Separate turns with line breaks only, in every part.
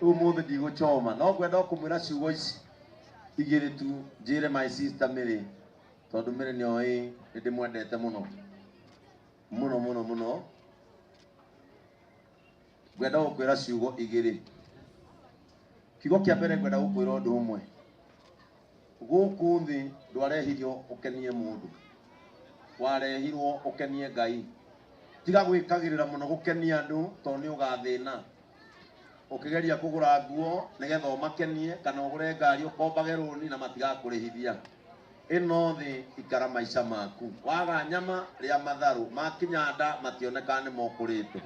rĩu mũthĩ ndigũcoma no ngwenda o kũmwĩra ciugo ici igĩrĩ tu njĩre my sister mĩrĩ tondũ mĩrĩ nĩyo ĩ nĩ ndĩmwendete mũno mũno mũno mũno ngwenda gũkwĩra ciugo igĩrĩ kiugo kĩa mbere ngwenda gũkwĩra ũndũ ũmwe gũkũ thĩ ndwarehirio ũkenie mũndũ warehirwo ũkenie ngai tiga gwĩkagĩrĩra mũno gũkenia andũ tondũ nĩ ũgathĩna ũkĩgeria kũgũra nguo nĩgetha ũmakenie kana ũgũre ngari ũkombage rũni na matigakũrĩhithia ĩno thĩ ikara maica maku waga nyama rĩa matharũ makinya nda mationeka nĩ mokũrĩte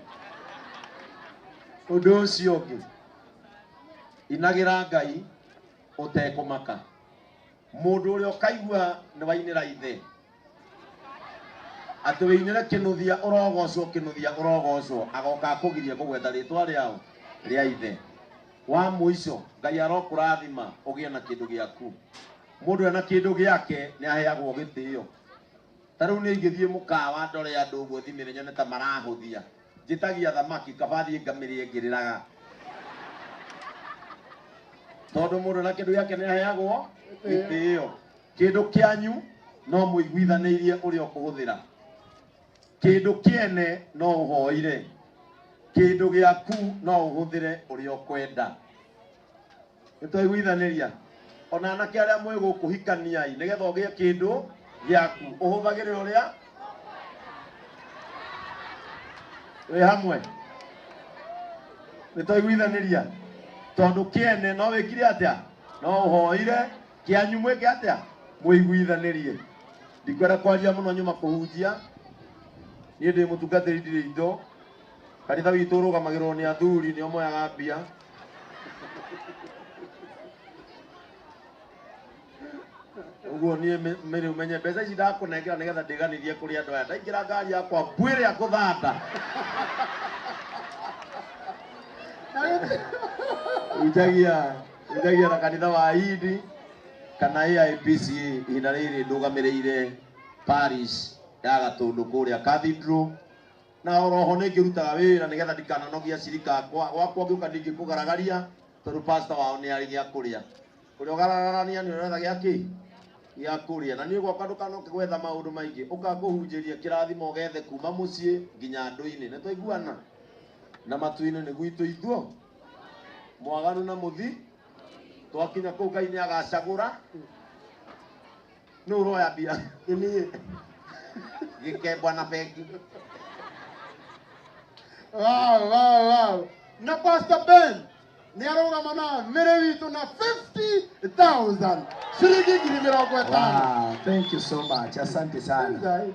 ũndũ ũcio ũngĩ inagĩra ngai ũtekũmaka mũndũ ũrĩa ũkaigua nĩ wainĩra ithe atĩ wĩinĩre kĩnuthia ũrogocwo kĩnuthia ũrogocwo agoka akũgirie kũgweta rĩtwa rĩao rĩa ithe wa mũico ngai arokũrathima ũgĩe na kĩndũ gĩaku mũndũ ena kĩndũ gĩake nĩ aheagwo gĩtĩo ta rĩu nĩ ingĩthiĩ mũkawa ndore andũ ũguo thimĩre nyone ta marahũthia njĩtagia thamaki kaba thiĩ ngamĩrĩe ngĩrĩraga tondũ mũndũ ena kĩndũ gĩake nĩ aheagwo gĩtĩo Kĩndũ kĩanyu no mũiguithanĩirie ũrĩa ũkũhũthĩra, kĩndũ kĩene no ũhoire, kĩndũ gĩaku no ũhũthĩre ũrĩa ũkwenda. Nĩtwaiguithanĩria ona anake arĩa mwĩ gũkũ hikaniai nĩgetha ũgĩe kĩndũ gĩaku ũhũthagĩre ũrĩa wĩ hamwe. Nĩtwaiguithanĩria tondũ kĩene no wĩkire atĩa? No ũhoire kĩanyu mwĩke atĩa mwĩiguithanirie ndikwenda kwaria mũno nyuma kũhunjia niĩ ndĩ mũtungatĩri ndirĩ indo kanitha witũ ũrũgamagĩrwo nĩ athuri nĩo moyaga mbia ũguo niĩ mĩ- mĩrĩ ũmenye mbeca ici ndakũnengera nĩgetha ndĩganithie kũrĩ andũ aya ndaingĩra ngari yakwa mbuĩrĩ ya kũthanda ujagia Ngai na kanitha wa Ayindi kana AIPCA ihinda rĩrĩ ndũgamĩrĩire parish ya Gatũndũ kũrĩa Cathedral na oroho nĩ ngĩrutaga wĩra nĩgetha ndikananogia cirika akwa gwakwa ngĩũka ndingĩkũgaragaria tondũ pastor wao nĩ arĩ gĩa kũrĩa kũrĩa ũgararania nĩ ũretha gĩa kĩ gĩa kũrĩa na niĩ ũgoka ndũkanoke gwetha maũndũ maingĩ ũka kũhunjĩria kĩrathimo gethe kuma mũciĩ nginya ndũ-inĩ nĩ twaiguana na matu-inĩ nĩ gwitũ ithuo mwaganu na muthi twakinya kuu ngai ni agacagura ni uroya mbia Niĩ. gikembwa na bengi
Wow, wow, wow. Na Pastor Ben ni arũgama na mĩrĩ witũ na 50,000 ciringi ngiri mĩrongo ĩtano. Wow, thank you so
much. Asante sana. Ngai.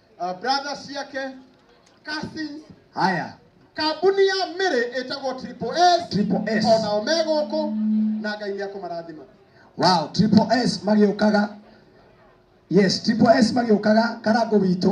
uh, brothers ciake cousins haya
kambuni ya
mĩrĩ ĩtagwo triple s triple s o nao me gũkũ na ngai nĩ akũmarathima wow triple
s magĩũkaga yes triple s magĩũkaga karango witũ